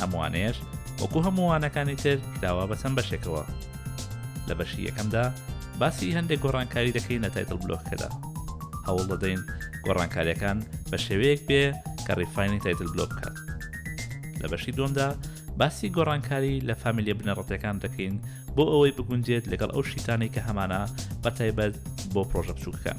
ئەم وانەیەش وەکو هەموو وانەکانی تر کراوە بە چەند بەشێکەوە لە بەشی یەکەمدا باسی هەندێک گۆڕانکاری دەکەین لە تایتل بلۆکەدا هەوڵ دەدەین گۆڕانکاریەکان بە شێوەیەک بێ کە ڕیفاینی تایتل بلۆ بکات لە بەشی دومدا باسی گۆڕانکاری لە فامیلیە بنەڕەتەکان دەکەین بۆ ئەوەی بگونجێت لەگەڵ ئەو شیتانی کە هەمانە بە تایبەت بۆ پرۆژە بچووکەکان.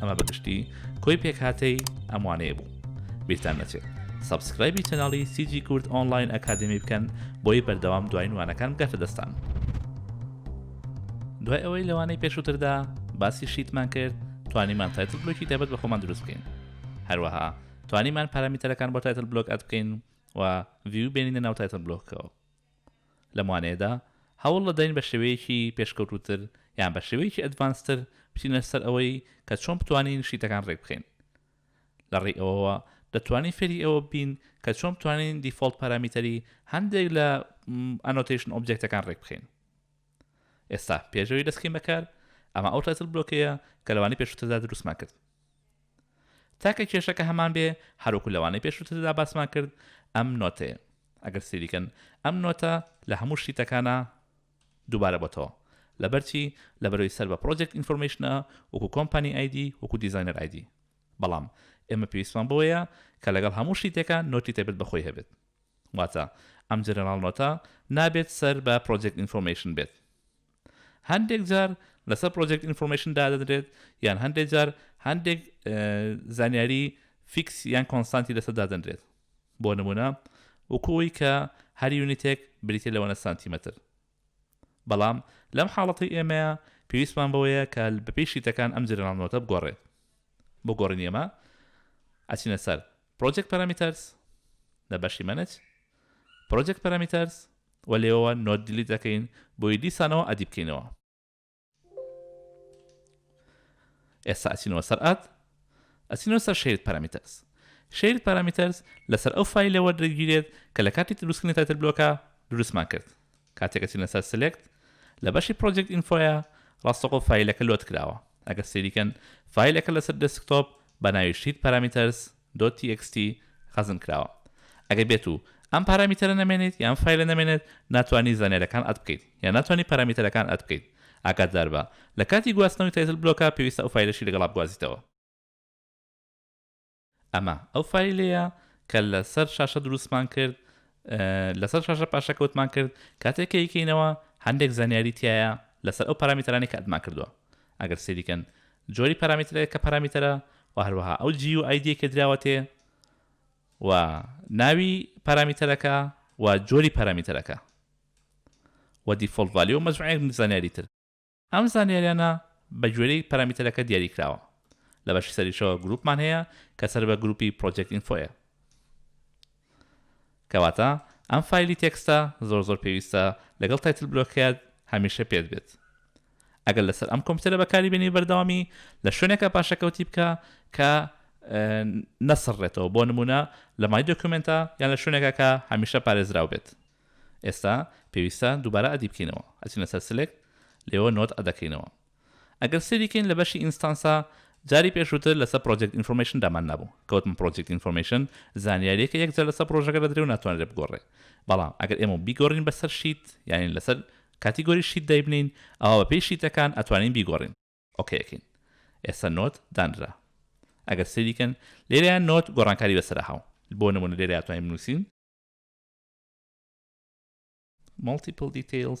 ئەمە بەگشتی کۆی پێکهاتەی ئەموانەیە بوو بیرتان نەچێت سبسکرایبی چەناڵی سیجی کورد ئۆنلاین ئەکادمی بکەن بۆی بەردەوام دوای وانەکان بگاتە دەستان دوای ئەوەی لەوانەی پێشووتردا باسی شیتمان کرد توانیمان تایتل بلوکی تایبەت بە خۆمان دروست بکەین هەروەها توانیمان پارامیتەرەکان بۆ تایتل بلوک ئەت بکەین و ڤیو بێنینە ناو تایتل بلوکەوە لەم وانەیەدا هەوڵ دەدەین بە شێوەیەکی پێشکەوتووتر یان بە شێوەیەکی ئەدڤانس تر بچینە سەر ئەوەی کە چۆن بتوانین شیتەکان ڕێک بخەین. لە ڕێی ئەوەوە دەتوانین فێری ئەوە ببین کە چۆن بتوانین دیفۆڵت پارامیتەری هەندێک لە ئەنۆتەیشن ئۆبجێکتەکان ڕێک بخەین. ئێستا پێش ئەوەی دەستکەین بە کار، ئەمە ئەو تایتڵ بلۆکەیە کە لە وانەی پێشووتردا دروستمان کرد. تاکە کێشەکە هەمان بێ هەروەکو لەوانەی پێشوتردا باسمان کرد ئەم نۆتەیە ئەگەر سەیری کەن ئەم نۆتە لە هەموو شیتەکانا دووبارە بۆتەوە لەبەرچی لەبەرەوەی سەر بە پرۆجێکت ئینفۆرمەیشنە وەکو کۆمپانی ئایدی وەکو دیزاینەر ئایدی بەڵام ئێمە پێویستمان بەوەیە کە لەگەڵ هەموو شیتێکە نۆتی تایبەت بەخۆی هەبێت واتە ئەم جەنەراڵ نۆتە نابێت سەر بە پرۆجێکت ئینفۆرمەیشن بێت هەندێک جار لەسەر پرۆجێکت ئینفۆرمەیشن دادەنرێت یان هەندێک جار هەندێک زانیاری فیکس یان کۆنسانتی لەسەر دادەنرێت بۆ نمونە وکوی کە هەر یونیتێک بریتە لەوەنە سانتیمەتر بەڵام لەم حاڵەتی ئێمەیە پێویستمان بەوەیە کە بەپی شیتەکان ئەم جرناڵ نۆتە بگۆڕێت بۆ گۆڕین ئێمە ئەچینە سەر پرۆجێک پەرامیتەرس لە بەشی منج پرۆجێک پەرامیتەرس وە لێوە نۆت دیلیت ئەکەین بۆیە دیسانەوە ئەدی بکەینەوە ئێستا ئەچینەوە سەر ئاد ئەچینەوە سەر شەیرت پەرامیتەرس شەیرت پەرامیتەرس لەسەر ئەو فایلەوە دەگیرێت کە لە کاتی دروستکردنی تایتل بلۆکە دروستمان کرد کاتێکە چینە سەر سلێکت لە بەشی پرۆجێکت ئینفۆیە ڕاستەقۆ فیلەکە لۆت کراوە ئەگە سریکەن فیلەکە لەسەر دەسکتۆپ بە ناوی شیت پارامیتەرس دۆت تی ئێکس تی خەزن کراوە ئەگەر بێت و ئەم پارامیتەرە نەمێنیت یان فایلە نەمێنێت ناتوانی زانیاریەکان ئەد بکەیت یان ناتوانی پارامیتەرەکان ئەد بکەیت ئاگاداربە لە کاتی گواستنەوەی تایتل بلۆکە پێویستە ئەو فایلەشی لەگەڵا بگوازیتەوە. ئەمە ئەو فایلەیە کە لە سەر شاشە دروستمان کرد لە سەر شاشە پاشەکەوتمان کرد کاتێک کەیکەینەوە هەندێک زانیاری تایە لەسەر ئەو پارامیتەرانی کە ئەدمان کردووە ئەگەر سەیری کەن جۆری پەرامیترەک کە پەرامیتەرە و هەروەها ئەو جی و ئایدیەی کە دراوەتێ و ناوی پەرامیتەرەکە و جۆری پەرامیتەرەکە و دیفۆڵت ڤالیۆ و مەجموعەیەک زانیاری تر. ئەم زانیاریانە بە گوێرەی پەرامیتەرەکە دیاری کراوە. لە بەشی سەریشەوە گرووپمان هەیە کە سەر بە گرووپی پڕۆجێکت ئینفۆیە. کەواتە ئەم فایلی تێکستە زۆر زۆر پێویستە لەگەڵ تایتل بلۆککەت هەمیشە پێت بێت ئەگەر لەسەر ئەم کۆمپیوتەرە بەکاری بێنی بەردەوامی لە شوێنێکە پاشەکەوتی بکە کە نەسڕێتەوە بۆ نمونە لە مای دۆکومنتە یان لە شوێنێکە کە هەمیشە پارێزراو بێت ئێستا پێویستە دووبارە ئەدی بکەینەوە ئەچینە سەر سلێک لێوە نۆت ئەدەکەینەوە ئەگەر سەیری کەین لە بەشی ئینستانسا جاری پێشووتر لەسەر پرۆجێکت ئینفۆرمەیشن دامان نابوو کە وتم پرۆجێکت ئینفۆرمەیشن زانیاریەکە یەک جار لەسەر پرۆژەکە دەدرێ و ناتوانرێ بگۆڕێ بەڵام ئەگەر ئێمە بیگۆڕین بەسەر شیت یانی لەسەر کاتیگۆری شیت دایبنێین ئەوا بەپێی شیتەکان ئەتوانین بیگۆڕین ئۆکەی ئەکەین ئێستا نۆت دانرا ئەگەر سەیری کەن لێرەیان نۆت گۆڕانکاری بەسەرا هاو بۆ نمونە لێرە ئەتوانین بنووسین multiple details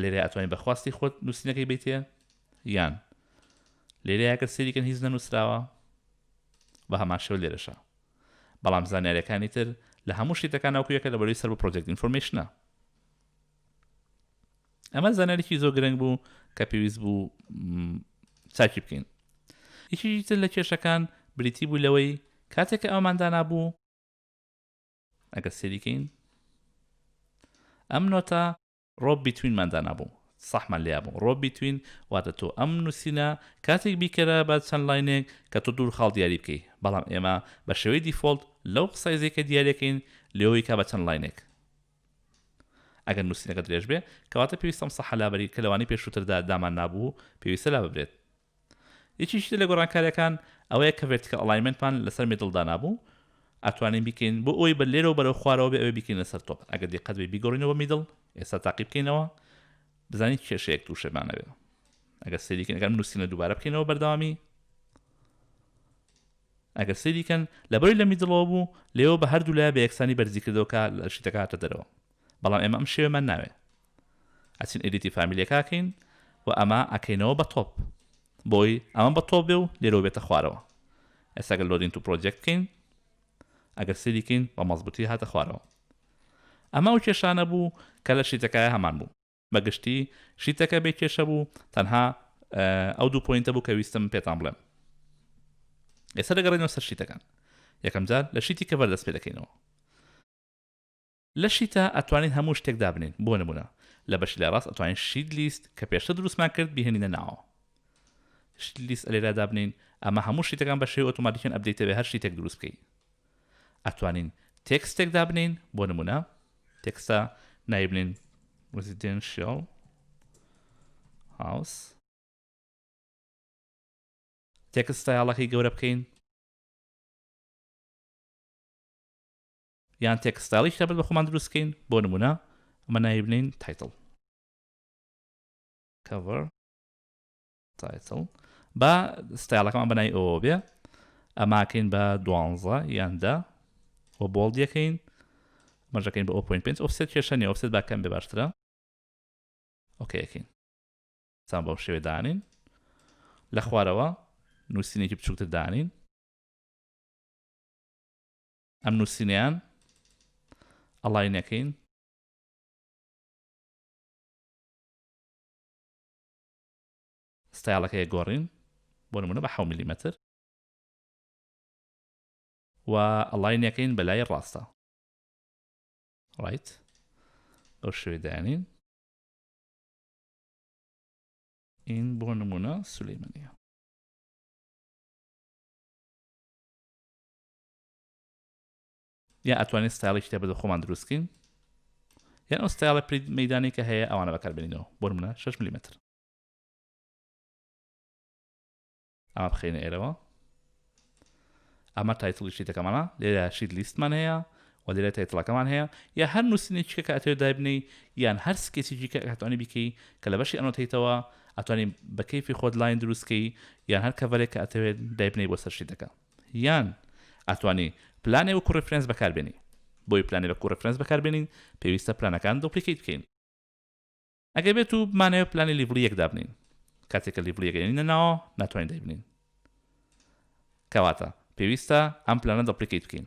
لێرەیا ئەتوانی بە خواستی خۆت نووسینەکەی بیتێ یان لێرەیە گەر سریکەن هیچ نەنووسراوە بە هەمان شێو لێرەشە بەڵام زانیارەکانی تر لە هەموو شتەکان ناوکویەکە لە بەروی سەر بۆ پرۆجێکت ئینفۆرمشنە ئەمە زانارێکی زۆر گرنگ بوو کە پێویست بوو چاکی بکەین یەکیتر لە کێشەکان بریتی بوو لەوەی کاتێک ئەوماندانا بوو ئەگەر سێری کەین ئەم نۆتە ڕۆب بیتوینمان دانابوو سەحمان لێ بوو ڕۆب بیتوین واتە تۆ ئەم نووسینە کاتێک بیکەرە بە چەند لاینێک کە تۆ دوور خاڵ دیاری بکەی بەڵام ئێمە بە شێوەی دیفۆلت لەو قسایزی کە دیارەکەین لێەوەی کا بە چەند لاینێک ئەگەر نووسینەکە درێژ بێ کەواتە پێویستم سەحە لابەری کە لەوانی پێشووتردا دامان نابوو پێویستە لا ببرێت یەکێکی تر لە گۆڕانکاریەکان ئەوەیە کە ڤێرتیکەڵ ئەڵایمێنتمان لەسەر میدڵ دانابوو ئەتوانین بیکەین بۆ ئەوەی بە لێرەوە بەرەو خوارەوە بێ ئەوەی بیکەین لەسەر تۆپ ئەگەر دیقەت بێ بیگۆڕینەوە بە میدڵ ئێستا تاقی بکەینەوە بزانین کێشەیەک تووشێمانەوێ ئەگەر سەیریکەن ئەگەر نووسینە دووبارە بکەینەوە بەردەوامی ئەگەر سەیریکەن لەبەری لە میدڵەوە بوو لێەوە بە هەردوو لای بە یەکسانی بەرزی کردەوە کە لە شیتەکە هاتە دەرەوە بەڵام ئێمە ئەم شێوەمان ناوێ ئەچین ئێدیتی فامیلەکەکەین و ئەمە ئەکەینەوە بە تۆپ بۆی ئەمە بە تۆپ بێ و لێرەوە بێتە خوارەوە ئێستاگە لۆدین تو پرۆجێکت بکەین ئەگەر سریکەین بە مەزبوتی هاتە خوارەوە ئەمە و کێشانە بوو کە لە شیتەکایە هەمان بوو بەگشتی شیتەکە بێ کێشە بوو تەنها ئەو دوو پوینتە بوو کە ویستم پێتان بڵێم ئێستا دەگەڕێنەوە سەر شیتەکان یەکەم جار لە شیتی کە بەردەست پێ دەکەینەوە لە شیتا ئەتوانین هەموو شتێک دابنێین بۆ نموونە لە بەشی لای ڕاست ئەتوانین شیت لیست کە پێشتر دروستمان کرد بیهێنینە ناوەوە شیت لیست ئە لێرا دابنێین ئەمە هەموو شیتەکان بە شێوەی ئۆتۆماتیکیان ئەپدەیتە بێ هەر شیتێک دروست بکەی ئەتوانین تێکستێک دابنێین بۆ نموونە تێکستە نایبنین residential house تێکست ستایڵەکەی گەورە بکەین یان تێکستایڵی کتابت بە خۆمان دروست کەین بۆ نمونە ئەمە ناوی بنین تایتڵ cover تایتڵ با ستایڵەکەمان بەنای ئەوە بێ ئەماکەین بە دوانزە یاندا و بۆڵ دیەکەین مەژەکەین بە 0.5 ئۆفسێت کێشە نیە ئۆفسێت باکەم بێ باشترە ئۆکەکەین سان بەم شێوێ دانین لە خوارەوە نووسینێکی بچووکتر دانین ئەم نوسینەیان ئەڵای نەکەین. ستایڵەکەی گۆڕین بۆ نمونە بە حەو ملیمەتر و ئەڵاینەکەین بە لای ڕاستە ڕایت ئەو شوێ دانین این بۆ نمونە سولەیمەنیە یان ئەتوانین ستایڵی کتێب بە خۆمان دروست بکەین یان ئەو ستایڵە پرید مەدانی کە هەیە ئەوانە بەکاربێنینەوە بۆ منە 6 ملیمتر ئەمە بخینە ئێرەوە ئەمە تایتڵی شیتەکەمانە لێرە شیت لیستمان هەیە و لێرە تایتڵەکەمان هەیە یا هەر نووسینێکیکە کە ئەتێ دابنی یان هەر سکێسیجی کە ئەتوانی بیکەی کە لە بەشی ئەنۆتیتەوە ئەتوانین بە کەیفی خۆت لاین دروستکەی یان هەر کەڤەرێک کە ئەتەوێت دایبنەی بۆ سەرشیتەکە یان ئەتوانی پلانێ وەکو ڕیفرێنس بەکار بێنی بۆی پلانێ وەکو ڕیفرێنس بەکار بێنین پێویستە پلانەکان دوپلیکەیت بکەین ئەگەر بێت و بمانەوێت پلانی لیڤڵی یەک دابنین کاتێک کە لیڤڵی یەک ئەینە ناوە ناتوانین دایبنین کەواتە پێویستە ئەم پلانە دەپلیکەیت بکەین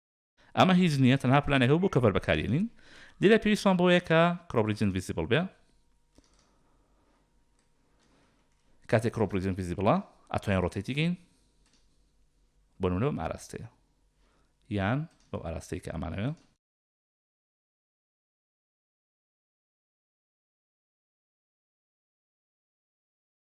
ئەمە هیچ نییە تەنها پلانێکە بۆ کەڤەر بەکارهێنین لێرە پێویستمان بەوەیە کە Crop Region Visible بێ کاتێک Crop Region Visible ئەتوانین ڕۆتەیتی گەین بۆ نمونە بەم ئاراستەیە یان بەو ئاراستەی کە ئەمانەوێ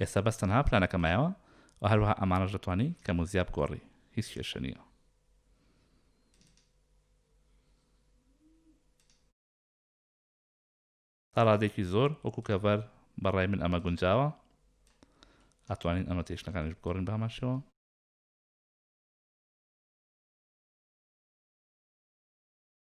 ئێستا بەس تەنها پلانەکە مایەوە و هەروەها ئەمانەش دەتوانی کەم و زیا بگۆڕی هیچ کێشە نییە. تا ڕادێکی زۆر وەکو کەڤەر بەڕای من ئەمە گونجاوە ئەتوانین ئەمە تێشتەکانش بگۆڕین بامانشەوە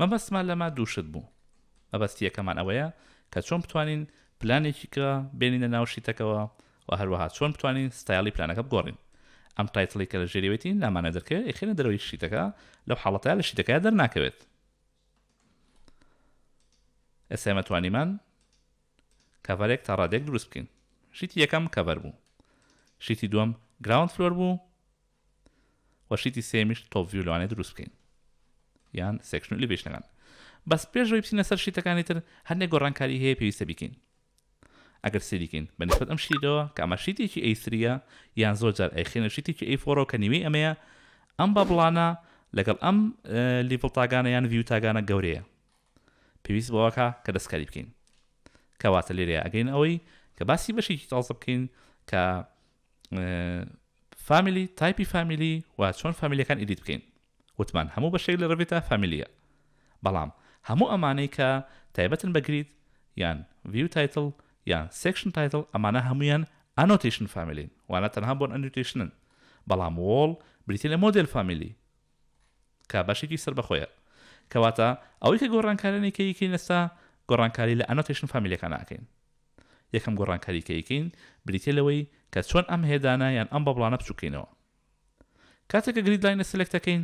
مەبەستمان لەمە دوو شت بوو. مەبەستی یەکەمان ئەوەیە کە چۆن بتوانین پلانێکی کرا بێنینە ناو شیتەکەوە و هەروەها چۆن بتوانین ستایڵی پلانەکە بگۆڕین. ئەم تایتڵەی کە لە ژێریەوەیەتی نامانە دەرکەوێت ئەیخەینە دەرەوەی شیتەکە لەو حاڵەتەیا لە شیتەکەیا دەرناکەوێت. ئێستا ئێمە توانیمان کەڤەرێک تا ڕادێک دروست بکەین. شیتی یەکەم کەڤەر بوو. شیتی دووەم گراوند فلۆر بوو. وە شیتی سێیەمیش تۆپ ڤیو لەوانەیە دروست بکەین یان سێکشن و ئلیڤیشنەکان بەس پێش ئەوەی بچینە سەر شیتەکانی تر هەندێک گۆڕانکاری هەیە پێویستە بیکەین ئەگەر سێری بکەین بە نسبەت ئەم شیتەوە کە ئەمە شیتێکی ئەیسریە یان زۆر جار ئەیخێنە شیتێکی ئەی فۆڕەوە کە نیوەی ئەمەیە ئەم بابڵانە لەگەڵ ئەم لیڤڵ تاگانە یان ڤیو تاگانە گەورەیە پێویست بەوەکە کە دەستکاری بکەین کەواتە لێرەیە ئەگەین ئەوەی کە باسی بەشێکی تازە بکەین کە فامیلی تایپی فامیلی و چۆن فامیلیەکان ئیدیت بکەین وتمان هەموو بەشێک لە ڕێڤێتا فامیلیە بەڵام هەموو ئەمانەی کە تایبەتن بەگریت یان ڤیو تایتل یان سێکشن تایتل ئەمانە هەمویان ئەنۆتیشن فامیلین وانە تەنها بۆن ئەنوتیشنن بەڵام وۆڵ بریتی لە مۆدل فامیلی کە بەشێکی سەربەخۆیە. کەواتە ئەوەی کە گۆڕانکارانەی کە یکەین ئێستا، گۆڕانکاری لە ئەنۆتەیشن فامیلەکانا ئەکەین. یەکەم گۆڕانکاری کە یکەین بریتیە لەوەی کە چۆن ئەم هێدانە یان ئەم بەبڵانە بچوک کەینەوە. کاتێ کە گرید لاینە سلێکت ئەکەین،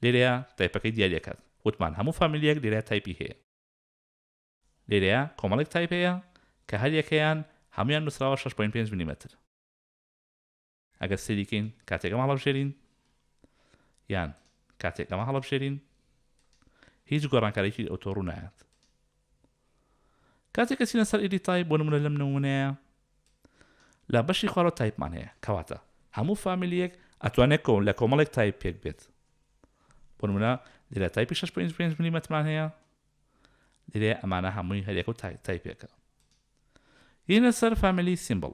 لێرەیا تایپەکەی دیاری ئەکات. وتمان هەموو فامیلیەک لێرە تایپی هەیە. لێرەیا کۆمەڵێک تایپ هەیە کە هەر یەکەیان هەموویان نوسراوە شەش پۆینت پێنج ملیمەتر. ئەگەر سەیری کەین کاتێک ئەمە هەڵەبژێرین یان کاتێک ئەمە هەڵەبژێرین هیچ گۆڕانکارێکی ئەوتۆ ڕوونایەت کاتێک کەسینە سەر ئیدی تای بۆ نمونە لەم نمونەیە لە بەشی خوارەوە تایپمان هەیە کەواتە هەموو فامیلیەک ئەتوانێت کۆم لە کۆمەڵێک تایپ پێک بێت بۆ نمونە لێرە تایپی 6 ملیمەتمان هەیە لێرێ ئەمانە هەمووی هەرێک و تایپێکە یینە سەر فامیلی سیمبڵ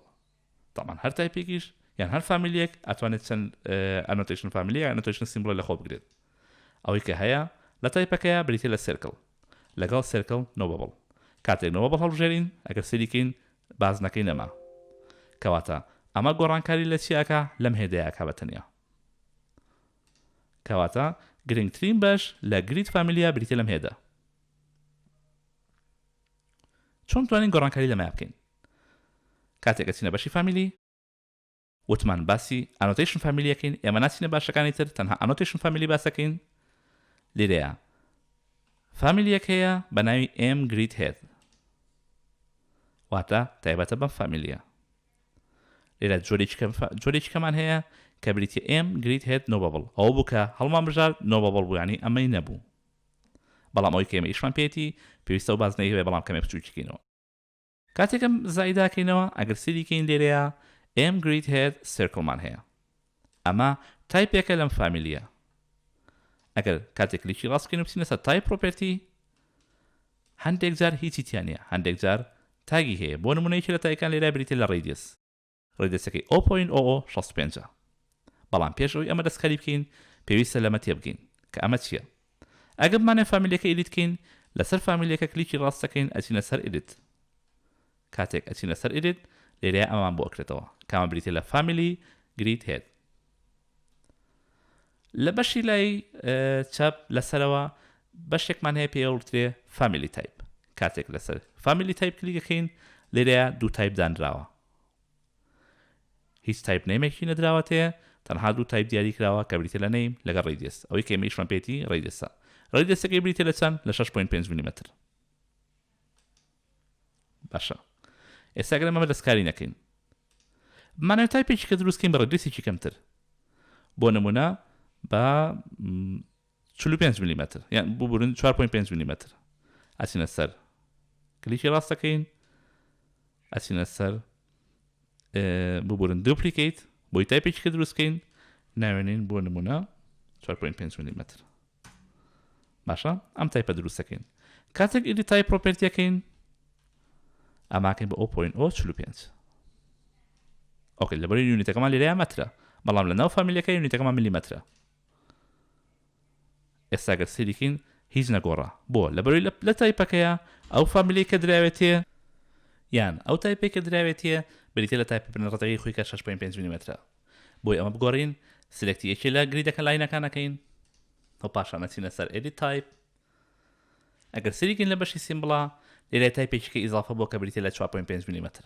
تەبعەن هەر تایپێکیش یان هەر فامیلیەک ئەتوانێت چەند ئەنۆتەیشن فامیلی یان ئەنۆتەیشن سیمبڵێ لەخۆ بگرێت ئەوەی کە هەیە لە تایپەکەیە بریتیە لە سێرکڵ لەگەڵ سێرکڵ نۆبەبڵ کاتێک نۆبەبڵ هەڵبژێرین ئەگەر سەیریکەین بازنەکەی نەما کەواتە ئەمە گۆڕانکاری لە چی ئەکا لەم هێدەیە ئەکا بە تەنیا کەواتە گرنگترین بەش لە گریت فامیلیا بریتە لەم هێدە چۆن توانین گۆڕانکاری لەمە بکەین کاتێک ئەچینە بەشی فامیلی وتمان باسی ئانۆتەیشن فامیلی ئەکەین ئێمە ناچینە باشەکانی تر تەنها ئانۆتەیشن فامیلی باس ئەکەین لیرەیە فامیلیەک هەیە بە ناوی ئێم گریت هێد واتە تایبەتە بەم فامیلیە لێرە جۆرێکی کەمان هەیە کە بریتە ئێم گریت هێت نۆبەبڵ ئەو بووکە هەڵمان بژار نۆبەبڵ بوویانی ئەمەی نەبوو بەڵام ئەوی کەمە ئیشمان پێێتی پێویستە و بازنەی هەیە بەڵام کەمێ بچووکینەوە کاتێک ئەم زائیدە ئەکەینەوە ئەگەر سەیری کەین لێرەیا ئێم گریت هێد سێرکڵمان هەیە ئەمە تایپێکە لەم فامیلیە ئەگەر کاتێک کلیکی ڕاست بکەین و بچینە سەر تایپ پرۆپێرتی هەندێک جار هیچی تیان نیە هەندێک جار تاگی هەیە بۆ نمونە یەکێ لە تایەکان لێرە بریتیە لە ڕەیدیەس ڕێدەچەکەی ئۆپۆ ئین ئۆۆ شەست و پێنج ە. بەڵام پێش ئەوەی ئەمە دەستکاری بکەین پێویستە لەمە تێبگەین کە ئەمە چیە. ئەگەر بمانەوێت فامیلیەکە ئیدیت کەین لەسەر فامیلیەکە کلیکی ڕاست دەکەین ئەچینە سەر ئیدیت. کاتێک ئەچینە سەر ئیدیت لێرەیا ئەمەمان بۆ ئەکرێتەوە کە ئەمە بریتیە لە فامیلی گریت هێد. لە بەشی لای چەپ لەسەرەوە بەشێکمان هەیە پێوترێ فامیلی تایپ کاتێک لەسەر فامیلی تایپ کلیکەکەین لێرەیە دوو تایپ دانراوە هیچ تایپ نەیمێکی نەدراوە تێ تەنها دوو تایپ دیاری کراوە کە بریتیە لە نەیم لەگەڵ ڕەیدیەس ئەوەی کە ئێمەیشمان پێتی ڕەیدیەسە ڕەیدیەسەکەی بریتیە لە چەند لە شەش پۆینت پێنج ملیمەتر باشە ئێستا گەر ئەمە دەستکاری نەکەین مانای تایپێکی کە دروستکەین بە ڕەیدیەسێکی کەمتر بۆ نمونە بە چل و پێنج ملیمەتر یان ببورن چوار پۆینت پێنج ملیمەتر ئەچینە سەر کلیکی ڕاست دەکەین ئەچینە سەر ببورن دوپلیکیت بۆی تایپێکی کە دروستکەین ناوێنین بۆ نمونە 4.5 ملیمەتر باشە ئەم تایپە دروستەکەین کاتێک ئیدی تای پرۆپرتیەکەین ئەماکەین بە 0.45 ئۆکە لەبەر یونیتەکەمان لێرەیە مەترە بەڵام لە ناو فامیلەکە یونیتەکەمان ملیمەترە ئێستا گەر سەیری کەین هیچ نەگۆڕا بۆ لەبەروی لە لە تایپەکەیە ئەو فامیلەی کە دراوێتێ یان ئەو تایپەی کە دراوێتیە بریتیە لە تایپە بنە ڕەتەکەی خۆی کە شەش پۆینت پێنج میلیمەترە بۆی ئەمە بگۆڕین سلێکتی یەکێ لە گریدەکە لاینەکان ئەکەین و پاشان ئەچینە سەر ئێدی تایپ ئەگەر سەیری کەین لە بەشی سیمبڵا لێرە تایپێکی کە ئیزافە بۆ کە بریتیە لە چوار پۆینت پێنج میلیمەتر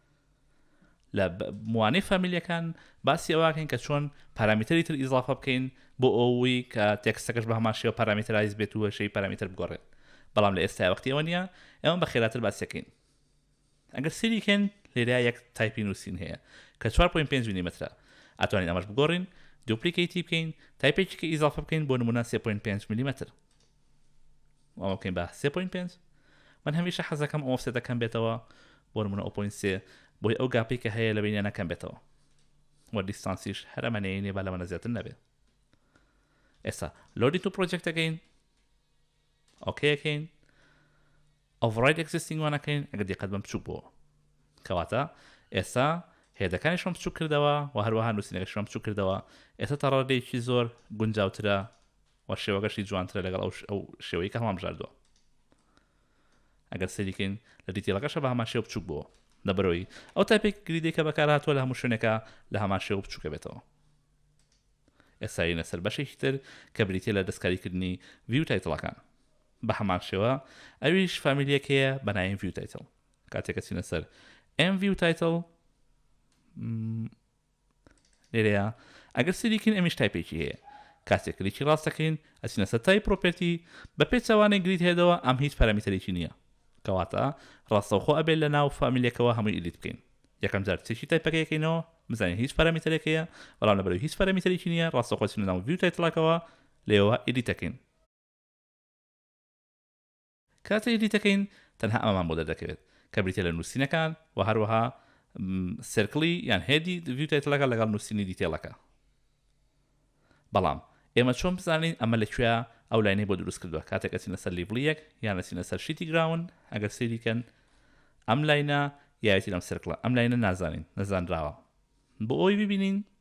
لە موانەی فامیلیەکان باسی ئەوەکەین کە چۆن پارامیتەری تر ئیزافە بکەین بۆ ئەوەی کە تێکستەکەش بە هەمان شێوە پارامترایز بێت و شەی پارامیتر بگۆڕێت بەڵام لە ئێستا وەختی ئەوە نییە ئێمە بە خێراتر باسەکەین ئەگەر سری کەن لێرا یەک تایپی نووسین هەیە کە 4.5 میلیمترە ئەتوانین ئەمەش بگۆڕین دوپلیکیتی بکەین تایپێکی کە ئیزافە بکەین بۆ نمونە 3.5 میلیمتر ئەوە بکەین بە 3.5 من هەمیشە حەزەکەم ئەو ئۆفسێتە کەم بێتەوە بۆ نمونە ئۆپۆین سێ بۆی ئەو گاپی کە هەیە لە بینیانە کەم بێتەوە وە دیستانسیش هەر ئەمەەیە نیە با لەمەە زیاتر نەبێت ئێستا لۆدی تو پرۆجێکتەکەین ئۆکەکەین ئۆڤڕای ئەکسستینگوانەکەین ئەگە دیقەت بم بچوک بۆ کەواتە ئێستا هێدەکانی شم بچوک کردەوە و هەروەها نووسینەکە شم بچوک کردەوە ئێستا تەڕادێکی زۆر گونجاوترە و شێوەکەشی جوانترە لەگەڵ ئەو ئەو شێوەی کە هەڵامژاردووە ئەگەر سەریکەین لە دیتیڵەکەشە بە هەمان شێو بچوک بووە لە بەرەوەی ئەو تاپێک گریدەی کە بەکارهاتووە لە هەموو شوێنێکە لە هەمان شێو بچووکە بێتەوە ئێساینە سەر بەشێکی تر کە بریتە لە دەستکاریکردنی ڤیو تایتڵەکان بە هەمان شێوە ئەویش فامیلیەک هەیە بەنایم ڤیو تایتڵ کاتێکە چینە سەر ئەم ڤیو تایتڵ لێرەیا ئەگەر سەیری کەین ئەمیش تایپێکی هەیە کاتێک کلیکی ڕاست دەکەین ئەچینە سەر تایپ پرۆپێرتی بە پێچەوانەی گرید هێدەوە ئەم هیچ پەرەمیتەرێکی نییە کەواتە ڕاستەوخۆ ئەبێت لە ناو فامیلەکەوە هەمووی ئیدیت بکەین یەکەم جار چێکی تایپەکە یەکەینەوە بزانین هیچ پەرەمیتەرێک هەیە بەڵام لەبەرەوەی هیچ پەرەمیتەرێکی نییە ڕاستەوخۆ چینە ناو ڤیو تایتڵەکەوە لێوە ئیدیتەکەین کاتێ ئیدیت دەکەین تەنها ئەمەمان بۆ دەردەکەوێت کە بریتیە لە نوسینەکان وە هەروەها سێرکڵی یان هێدی ڤیو تایتڵەکە لەگەڵ نوسینی دیتێڵەکە بەڵام ئێمە چۆن بزانین ئەمە لە کوێە ئەو لاینەی بۆ دروست کردووە کاتێک ئەچینە سەر لیڤڵی یەک یان ئەچینە سەر شیتی گراون ئەگەر سەیری کەن ئەم لاینە یایەتی لەم سرکڵە ئەم لاینە نازانین نەزانراوە بۆ ئەوی ببینین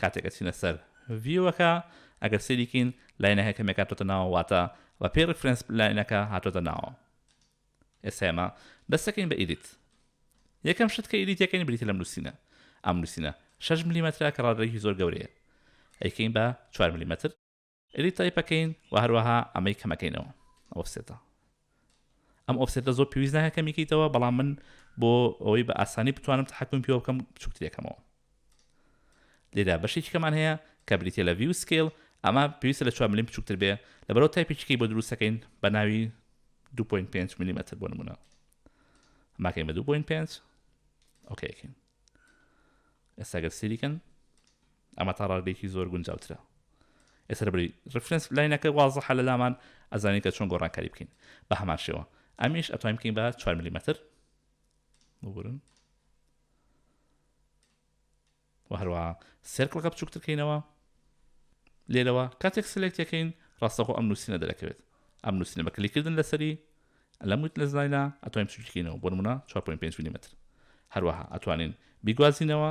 کاتێک ئەچینە سەر ڤیوەکە ئەگەر سەیری کەین لاینەکە کەمێک هاتۆتە ناوە واتە بە پێی ڕیفرێنس لاینەکە هاتۆتە ناوە ئێستا ئێمە دەستەکەین بە ئیدیت یەکەم شت کە ئیدیتەکەین بریتە لەم نووسینە ئەم نووسینە 6 ملیمەترە کە ڕادەیەکی زۆر گەورەیە ئەیکەین بە 4 ملیمەتر ئیدیت تایپ ئەکەین و هەروەها ئەمەی کەمەکەینەوە ئۆفسێتە ئەم ئۆفسێتە زۆر پێویست ناکە کەمیکەیتەوە بەڵام من بۆ ئەوەی بە ئاسانی بتوانم تحکم پێوە بکەم بچووکترێکەمەوە لێدا بەشێکی کەمان هەیە کە بریتە لە ڤیو سکیل ئەمە پێویستە لە 4 ملیم بچووکتر بێ لە بەرەوە تایپێکیکەی بۆ دروستەکەین بە ناوی 2.5 میلیمەتر بۆ نمونە ماکەین بە 2.5 ئۆکەکەین ئێستاگەر سریکەن ئەمە تا ڕادەیەکی زۆر گونجاوترە. ئێستا لەبری ڕیفرێنس لاینەکە وازحە لە لامان ئەزانین کە چۆن گۆڕانکاری بکەین. بە هەمان شێوە ئەمیش ئەتوانین بکەین بە چوار ملیمەتر ببورن و هەروە سێرکڵەکە بچووکترکەینەوە لێرەوە کاتێک سلێکتەکەین ڕاستەخۆ ئەم نووسینە دەرەکەوێت ئەم نووسینە بە کلیکردن لەسەری لەم وت لە زاینا ئەتوانین بچووکینەوە بۆ نمونە 4.5 ملیمەتر هەروەها ئەتوانین بیگوازینەوە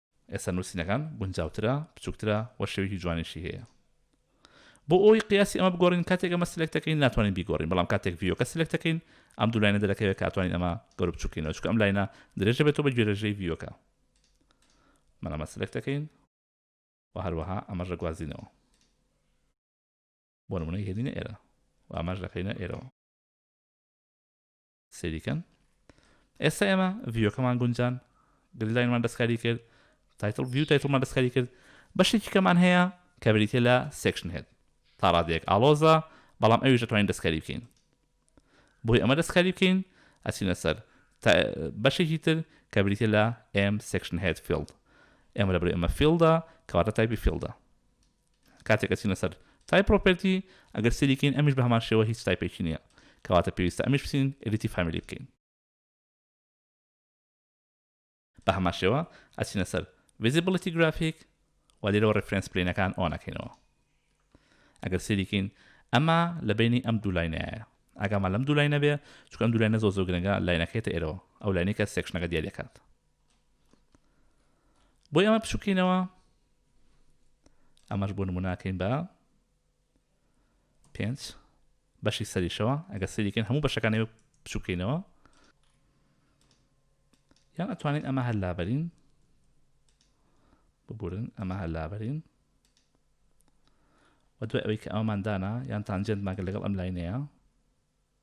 ئێستا نوسینەکان گونجاوترە، بچوکترە و شێوەیەکی جوانیشی هەیە. بۆ ئەوەی قیاسی ئەمە بگۆڕین کاتێک ئەمە سلێکت دەکەین ناتوانین بیگۆڕین بەڵام کاتێک ڤیۆکە سلێکت دەکەین ئەم دوو لاینە دەرەکەوێت کە ئەتوانین ئەمە گەورە بچوک کەینەوە چونکە ئەم لاینە درێژ دەبێتەوە بە گوێرەژەی ڤیۆکە من ئەمە سلێکت دەکەین و هەروەها ئەمەش دەگوازینەوە بۆ نمونەی هێنینە ئێرە و ئەمەش دەکەینە ئێرەوە سەیری کەن ئێستا ئێمە ڤیۆکەمان گونجان گلداینمان دەستکاری کرد تایتل ڤیو تایتلمان دەستکاری کرد بەشێکی کەمان هەیە کە بریتە لە سێکشن هێت تا ڕادێک ئالۆزە بەڵام ئەویش دەتوانین دەستکاری بکەین بۆی ئەمە دەستکاری بکەین ئەچینە سەر بەشێکی تر کە بریتە لە ئێم سێکشن هێت فیلد ئێمە لە بری ئەمە فیلدا کەواتە تایپی فیلدا کاتێک ئەچینە سەر Type Property ئەگەر سەیری کەین ئەمیش بە هەمان شێوە هیچ تایپێکی نییە کەواتە پێویستە ئەمیش بچین Edit Family بکەین بە هەمان شێوە ئەچینە سەر Visibility Graphic و لێرەوە Reference Planeەکان ئۆن ئەکەینەوە ئەگەر سەیری کەین ئەمە لە بینی ئەم دوو لاینایە ئاگامان لەم دوو لاینە بێ چونکە ئەم دوو لاینە زۆر زۆر گرنگە لاینەکەیتە ئێرەوە ئەو لاینەی کە سێکشنەکە دیاریەکات بۆی ئەمە بچووکینەوە ئەمەش بۆ نموناکەین بە پێنج بەشی سەریشەوە ئەگە سەریکەن هەموو بەشەکانی بچووکەینەوە یان ئەتوانین ئەمە هەر لابەرین ببورن ئەمە هەر لابەرین و دوای ئەوەی کە ئەومان دانا یان تانجێنت ماگە لەگەڵ ئەم لاینەیە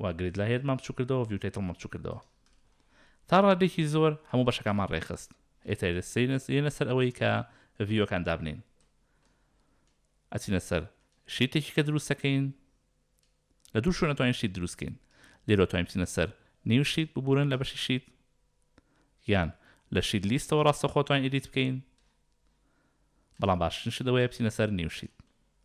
و گرید لایرمان بچوک کردەوە ڤیو تایتڵمان بچوک کردەوە تا ڕادێکی زۆر هەموو بەشەکانمان ڕێکخست ئێتە سینس یەنە سەر ئەوەی کە ڤیوەکان دابنین ئەچینە سەر شیتێکی کە دروستەکەین لە دوو شوێنە توانین شیت دروستکەین لێرۆ توانین بچینە سەر نیو شیت ببورن لە بەشی شیت یان لە شیت لیستەوە ڕاستەخۆ توانین ئیدیت بکەین بەڵام باشترین شت ئەوەیە بچینە سەر نیو شیت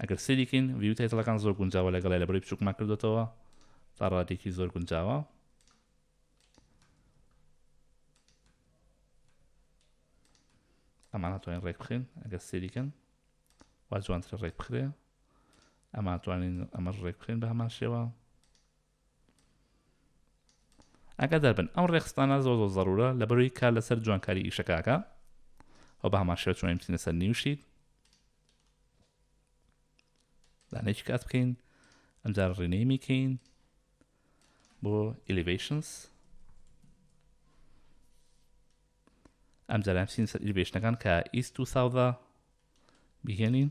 ئەگەر سەیری کەین ڤیو تایتڵەکان زۆر گونجاوە لەگەڵای لە بڕی بچووکمان کردوێتەوە تا ڕادێکی زۆر گونجاوە ئەمان توانین ڕێک بخێن ئەگەر سەیریکەن وا جوانترە ڕێک بخرێ ئەمان توانین ئەمەش ڕێک بخێن بە هەمان شێوە ئاگادار بن ئەم ڕێخستانە زۆر زۆر زەرورە لەبەروی کار لەسەر جوانکاری ئیشەکەکە ئەو بە هەمان شێوە چۆن بچینە سەر نیوشیت دانێکی کات بکەین ئەمجار ڕینەیمی کەین بۆ ئلیڤیشنس ئەم جارام سین سەر ئیلیڤیشنەکان کە ئیست و ساودا بهێنین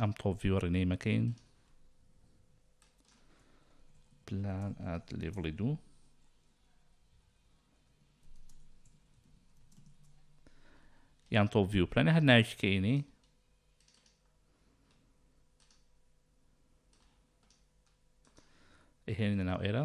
ئەم تۆپ ڤیوە ڕینەی مەکەین پلان ئات لێڤڵی دوو یان تۆپ ڤیو پلانە هەر ناویش کەینی هێنە ناو ئێرە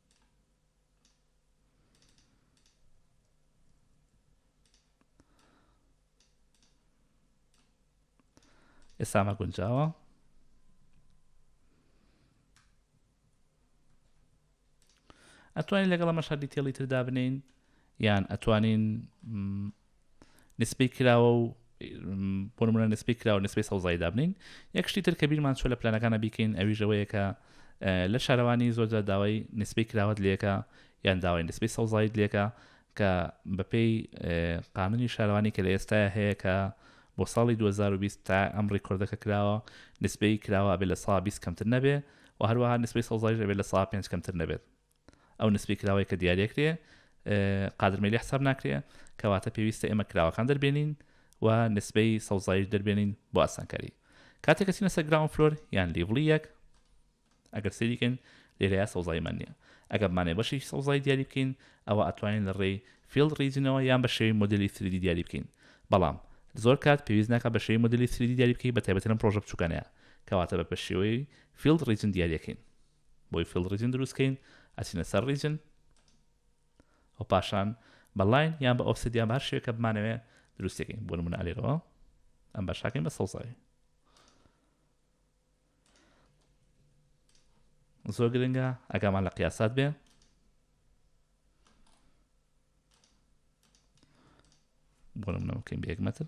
ئێسامە گونجاوە ئەتوانین لەگەڵ ئەمە شادی تێڵی تردا بنین یان ئەتوانین نسبەی کراوە و بۆ نمونە نسبەی کراوە نسبەی سەوزایی دابنین یەک شتی تر کە بیرمان چۆ لە پلانەکانە بیکەین ئەویش ئەوەیە کە لە شارەوانی زۆرجار داوای نسبەی کراوەت لەکە یان داوای نسبەی سەوزایت لەکە کە بەپێی قانونی شارەوانی کە لە ئێستای هەیە کە بۆ ساڵی 2020 تا ئەم ڕیکۆردەکە کراوە نسبەی کراوە بێ لە سا 20 کەمتر نەبێ و هەروەها نسبەی سەوزایش بێ لە سا 5 کەمتر نەبێت ئەو نسبەی کراوەی کە دیاری ئەکرێ قادر مەیلی حساب ناکرێ کەواتە پێویستە ئێمە کراوەکان دەربێنین و نسبەی سەوزایش دەربێنین بۆ ئاسانکاری کاتێک کەسینە سەر گراون فلۆر یان لیڤڵی یەک ئەگەر سریکن لێرەیە سەوزایمان نییە ئەگەرمانێ بەشی سەوزای دیاری بکەین ئەوە ئەتوانین لە ڕێی فیلد ریجنەوە یان بە شێوی مدلی سریدی دیاری بکەین بەڵام زۆر کات پێویست ناکە بە شێوی مدلی سریدی دیاری بکەی بە تایبەتەن پرۆژە بچووکانەیە کەواتە بە بە شێوەی فیلد ریجن دیاریەکەین بۆی فیڵد ڕیجن دروست کەین ئەچینە سەر ڕیجن و پاشان بە لاین یان بە ئۆفسێت یان بە هەر شێوەیەک کە بمانەوێ دروستی کەین بۆ نمونە ئەلێرەوە ئەم باشاکەین بە سەوزاوی زۆر گرنگە ئەگامان لە قیاسات بێ بۆ نمونە بکەین بە یەک مەتر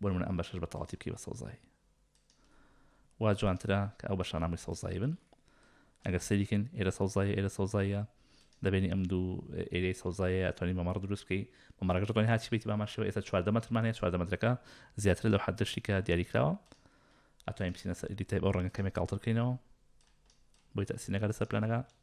بۆ نمونە ئەم بەشەش بە تەواتی بکەی بە سەوزایی وا جوانترە کە ئەو بەشانامەی سەوزایی بن ئەگەر سەریکن ئێرە سەوزایە ئێرە سەوزایە دەبێنی ئەم دوو ئێری سەوزایە توانی مەمەڕ دروست بکەی مەمەڕەکە دەڵێن هاچی بیت باماشەوە ئێستا چواردە مەترمانەیە چواردە مەترەکە زیاتر لەو حدشتی کە دیاریکراوە ئەتوانین بچینە سەری تای بەو ڕەنگە کەمێک کاڵترکەینەوە بۆی تاسینەکە لەسەر پلانەکە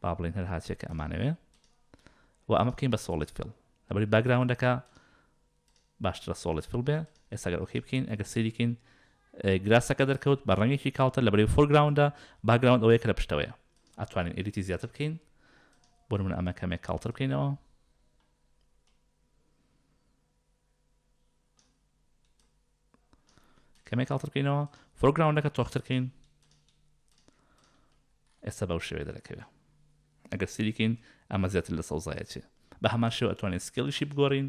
با بڵێن هەر هاچێک کە ئەمانەوێ و ئەمە بکەین بە سۆڵیت فیڵ لەبەری باگراوندەکە باشترە سۆڵت فل بێ ئێستاگەر ئۆکی بکەین ئەگە سریکەین گراسەکە دەرکەوت بە ڕەنگێکی کاڵتە لە بەرەی فۆرگراوندا باگراوند ئەوەیە کە لە پشتەوەیە ئەتوانین ئەلیتی زیاتر بکەین بۆ من ئەمە کەمێک کاڵتر بکەینەوە کەمێک کاڵتر بکەینەوە فۆرگراوندەکە تۆختر کەین ئێستا بەو شێوێ دەرەکەوێت ئەگەر سریکەین ئەمە زیاتر لە سەوزایەتی بە هەمان شێوە ئەتوانین سکێڵیشی بگۆڕین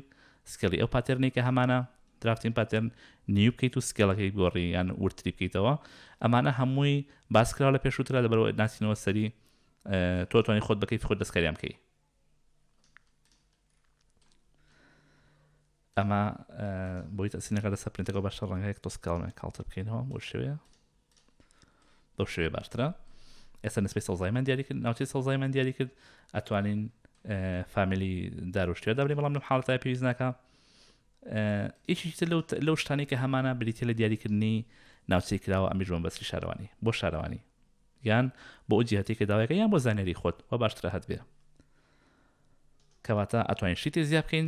سکێڵی ئەو پاتێرنی کە هەمانە درافتین پاتێرن نیو بکەیت و سکێڵەکەی گۆڕی یان ورتری بکەیتەوە ئەمانە هەمووی باسکراوە لە پێشووترا لە بەرەوە ناسینەوە سەری تۆتوانی خۆت بکەیت خۆت دەستکاریان بکەیت ئەمە بۆی تەسینەکە لەسەر پرینتەکە باشە ڕەنگەیەک تۆسکاڵمێ کاڵتە بکەینەوە بۆ شوێ بەو شوێ باشترە ئێستا نسبەی سەوزایمان دیاری کرد ناوچەی سەوزایمان دیاری کرد ئەتوانین فامیلی داروشتێدا بێ بەڵام لەم حاڵەتای پێویست ناکە ئیشی لەو شتانی کە هەمانە بریتە لە دیاریکردنی ناوچەی کراوە ئەمیش بۆم بەسی شارەوانی بۆ شارەوانی یان بۆ جیهتی کە داواەکە یان بۆ زانێری خۆت و باشترە هەت بێ کەواتە ئەتوانین شتی زیاب بکەین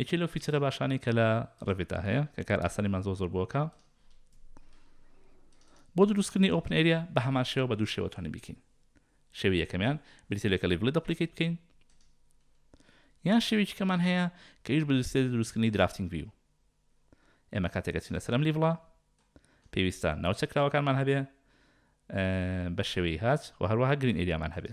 یەکێ لەو فیچەرە باشانەی کە لە ڕێڤێتا هەیە کە کار ئاسانیمان زۆر زۆر بۆکە بۆ دروستکردنی ئۆپن ئەریا بە هەمان شێوە بە دوو شێوە توانین بیکەین شێوی یەکەمیان بریتە لێکە لیڤڵی دەپلیکیت بکەین یان شێوێکی کەمان هەیە کە هیچ بدرسێ دروستکردنی درافتنگ ویو ئێمە کاتێکە چینە سەرم لیڤڵە پێویستە ناوچە کراوەکانمان هەبێ بە شێوەی هاچ و هەروەها گرین ئەریامان هەبێ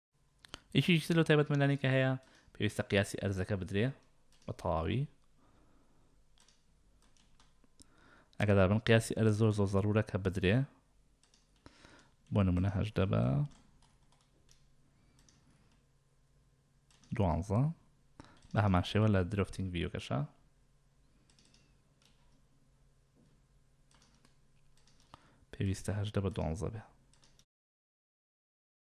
یەکێکی تر لەو تایبەتمەندانەی کە هەیە پێویستە قیاسی ئەرزەکە بدرێ بە تەواوی ئەگەدار بن قیاسی ئەرز زۆر زۆر زەرورە کە بدرێ بۆ نمونە هەشدە بە دوانزە بە هەمان شێوە لە درفتنگ ڤیوکەشە پێویستە هەشدە بە دوانزە بێ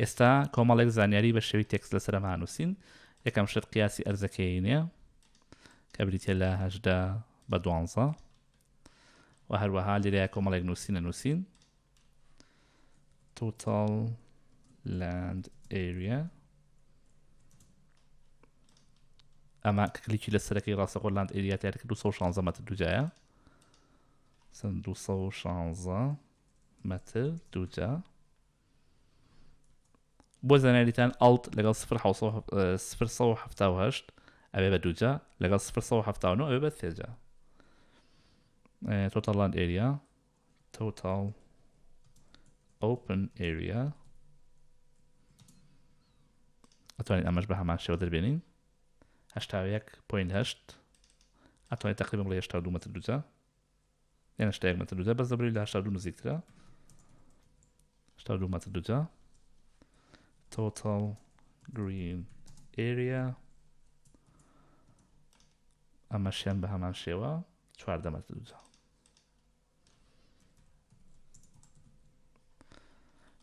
ئێستا کۆمەڵێک زانیاری بە شێوی تێکس لەسەر ئەم هانووسین یەکەم شت قیاسی ئەرزەکەینە کە بریتە لە هەشدا بە دوانزە و هەروەها لێرە کۆمەڵێک نووسینە نووسین total land area ئەمە کلیکی لە سەرەکەی ڕاستەخۆ لاند ئەریاتیارکە 216 مەتر دوجایە 216 مەتر دووجا بۆ زانیاریتان ئەڵت لەگەڵ 1970 ئەوێ بە دووجا لەگەڵ 1970 ئەوێ بە سێجا تۆتەڵاند ئێریا تۆتاڵ ئۆپن ئێریا ئەتوانین ئەمەش بە هەمان شێوە دەربێنین هەشتاوەیەک پوین هەشت ئەتوانین تقریبم بڵێ هێشتا دوو مەتر دووجا یعنی هەشتا یەک مەتر دووجا بەس دەبری لە هەشتا دوو نزیکترە هەشتا دوو مەتر دووجا total green area ئەمەشیان بە هەمان شێوە چواردە مەتر دووجا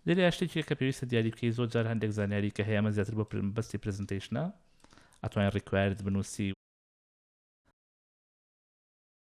لێرە شتێکی کە پێویستە دیاری بکەی زۆر جار هەندێک زانیاری کە هەیەمە زیاتر بۆ بەستی پرزنتیشنە ئەتوانین ڕیکوارد بنووسی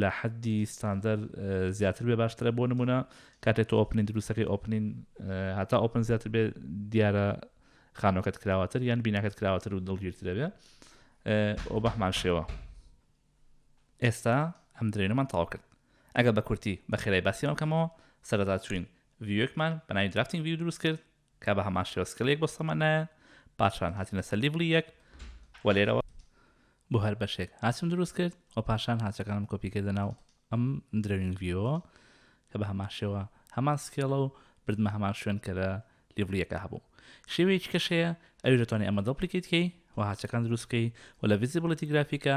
لە حەدی ستاندەر زیاتر بێ باشترە بۆ نمونە کاتێ تۆ ئۆپنین دروستەکەی ئۆپنین هەتا ئۆپن زیاتر بێ دیارە خانۆکەت کراوەتر یان بیناکەت کراوەتر و دڵگیرترەبێ ئەو بەحمان شێوە ئێستا ئەم درێنەمان تاوا کرد ئەگە بە کورتی بە خێرای باسیەوە کەمەوە سەردا چوین ڤیوەکمان بەناوی درافتنگ ڤیو دروست کرد کە بە هەمان شێوە سکڵ یەک بۆ سەمەنایە پاشان هاتینە سەر لیڤڵی یەک و لێرەوە بۆ هەر بەشێک هاچم دروست کرد و پاشان هاچەکانم کۆپی کردە ناو ئەم درەوین ڤیۆ کە بە هەمان شێوە هەمان سکێڵە و بردمە هەمان شوێن کە لە لیڤڵیەکە هەبوو شێوەیەکی کەشەیە ئەوی دەتوانێت ئەمە دەپلیکیتکەی و هاچەکان دروستکەی و لە ڤزیبڵەتی گرافیکە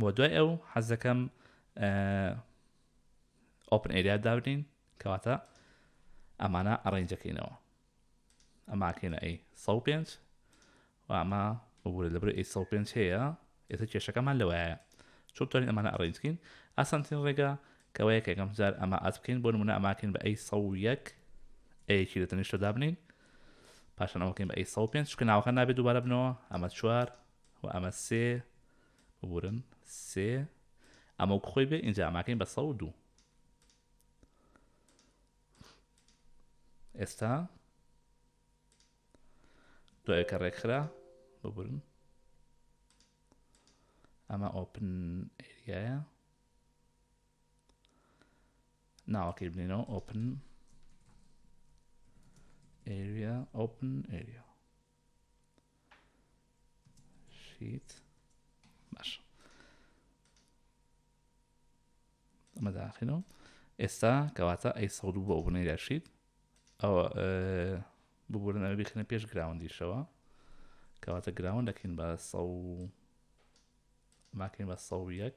بۆ دوای ئەو حەزەکەم ئۆپن ئێریا دابنین کەواتە ئەمانە ئەڕێنجەکەینەوە ئەماکەینە ئەی سە پێنج و ئەمە ببوورە لەبەر ئەی سە پێنج هەیە ئێستا کێشەکەمان لەوەیە چۆن توانین ئەمانە ئەڕێنجکەین ئاسانترین ڕێگا کەوەیە کە یەکەم جار ئەمە ئاز بکەین بۆ نمونە ئەماکەین بە ئەی سە یەک ئەیەکی لە تەنیشتە دابنین پاشان ئەوکەین بە ئەی سە پێنج چکە ناوەکە نابێت دووبارە بنەوە ئەمە چوار و ئەمە سێ ببورن سێ ئەمە وەک خۆی بێ ئینجا ئەماکەین بە سە و دوو ئێستا دوای کە ڕێکخرا ببورن ئەمە ئۆپن ئێریایە ناوەکەی بنینەوە ئۆپن ئێریا ئۆپن ئێریا شیت باش ئەمە داخینەوە ئێستا کەواتە ئەی سە بۆ بنەی دەشیت ئەوە ببورن ئەوە بخنە پێش گراوندیشەوە کەواتە گراون دەکەین بە سە ماکەین بە سە یەک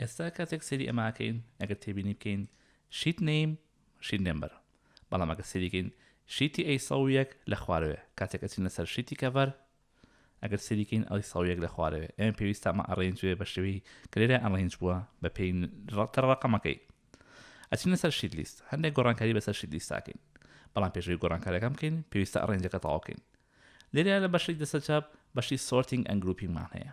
ئێستا کاتێک سەیری ئەماکەین ئەگەر تێبینی بکەین شیت نیم شیت نمبر بەڵام ئەگە سەریکەین شیتی ئەی سە یەک لە خوارەوێ کاتێک ئەچین لەسەر شیتی کەڤەر ئەگەر سەریکەین ئەڵی سە یەک لە خوارەوێ ئەم پێویستە ئەمە ئەڕێنجێ بە شێوی کلێرە ئەڵێنج بووە بە پێی ڕەتە ڕقەمەکەی ئەچین لەسەر شیت لیست هەندێک گۆڕانکاری بەسەر شیت لیستاکەین بەڵام پێشوی گۆڕانکارەکەم بکەین پێویستە ئەڕێنجەکە تەواوکەین لێرە لە بەشی دەسە چاپ بەشی سۆرتنگ ئەنگروپینگمان هەیە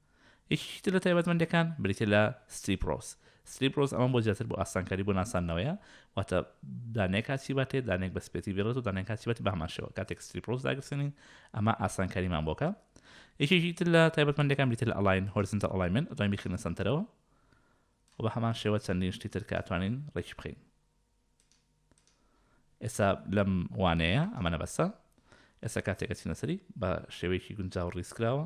یەکێکی تر لە تایبەتمەندیەکان بریتیە لە Strip Rows Strip Rows ئەمە بۆ زیاتر بۆ ئاسانکاری بۆ ناساندنەوەیە واتە دانەیەک کاچی باتێ دانەیەک بە سپێتی بێڵێت و دانەیەک کاچی باتێ بەهەمان شێوە کاتێک Strip Rows داگرسێنین ئەمە ئاسانکاریمان بۆکە یەکێکی تر لە تایبەتمەندەکان بریتە لە ئەڵاین هۆرزنتە ئەڵای من ئەتوانین بخینە سەنتەرەوە و بە هەمان شێوە چەندین شتی تر کاتوانین ڕێکی بخین ئێستا لەم وانەیە ئەمەە بەسە ئێستا کاتێکە چینەسەری بە شێوەیەکی گونجاو ڕیسکراوە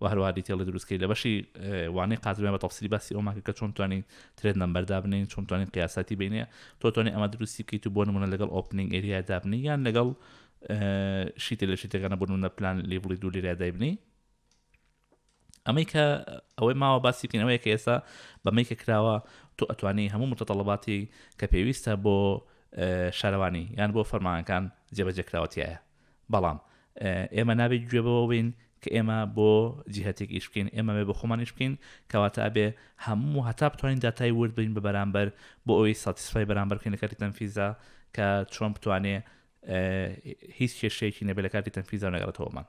و هەروەها دیتێڵ لە دروستکەی لە بەشی وانەی قاترمیان بە تەفسیری باسی ئەومان کرد کە چۆن توانین ترێد نمبەر دابنین چۆن توانین قیاساتی بینێ تۆ توانین ئەمە دروستی بکەیت و بۆ نمونە لەگەڵ ئۆپنینگ ئێریا دابنی یان لەگەڵ شیتە لە شیتەکانە بۆ نمونە پلان لێبڵی دوو لێریا دایبنی ئەمەی کە ئەوەی ماوە باسی بکەین ئەوەیە کە ئێستا بەمەی کە کراوە تۆ ئەتوانی هەموو متەتەڵەباتی کە پێویستە بۆ شارەوانی یان بۆ فەرمانەکان جێبەجێکراوەتیایە بەڵام ئێمە نابێ گوێ بەوە بین کە ئێمە بۆ جیهتێک ئیش بکەین ئێمە بێ بە خۆمان ئیش بکەین کەواتە ئەبێ هەموو هەتا بتوانین داتای ورد بین بە بەرامبەر بۆ ئەوەی ساتیسفای بەرامبەر بکەین لە کاتی تەنفیزدا کە چۆن بتوانێ هیچ کێشەیەکی نەبێ لە کاتی تەنفیزدا نەگەڕێتەوەمان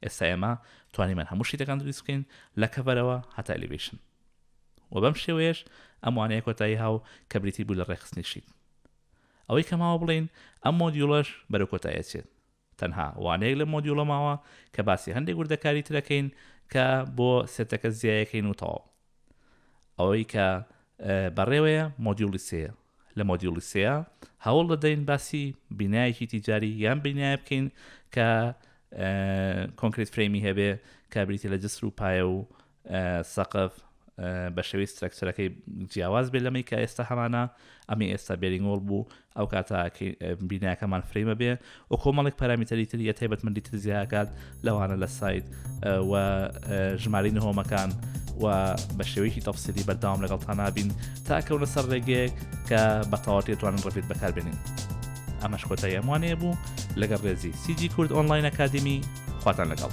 ئێستا ئێمە توانیمان هەموو شتەکان دروست بکەین لە کەبەرەوە هەتا ئەلیڤیشن و بەم شێوەیەش ئەموانەیە کۆتایی هاو کە بریتی بوو لە ڕێخستنی شیت ئەوەی کە ماوە بڵێین ئەم مۆدیوڵەش بەرەو کۆتایی ئەچێت تەنها وانەیەک لەم مۆدیوڵە ماوە کە باسی هەندێک وردەکاری تر ئەکەین کە بۆ سێتەکە جیا ئەکەین و تەواو ئەوەی کە بەڕێوەیە مۆدیوڵی سێیە لە مۆدیوڵی سێیە هەوڵ دەدەین باسی بینایەکی تیجاری یان بینایە بکەین کە کۆنکریت فرەیمی هەبێ کابریتی لە جسر و پایە و سەقف بە شێوەی سترەکچەرەکەی جیاواز بێ لەمەی کە ئێستا هەمانە ئەمی ئێستا بێرینگۆڵ بوو ئەو کاتە بیناکەمان فرەیمە بێ و کۆمەڵێک پارامیتەری تریە تایبەتمەندی تر زیاکات لەوانە لە سایت و ژماری نهۆمەکان و بە شێوەیەکی تەفسیری بەرداوام لەگەڵ تانابین تاکەونە سەر ڕێگەیەک کە بەتەواتی توانن ڕفێت بەکاربێنین ئەمەش کۆتای ئەموانەیە بوو لەگەڵ ڕێزی سیجی کورد ئۆنلاین ئەکادمی خواتان لەگەڵ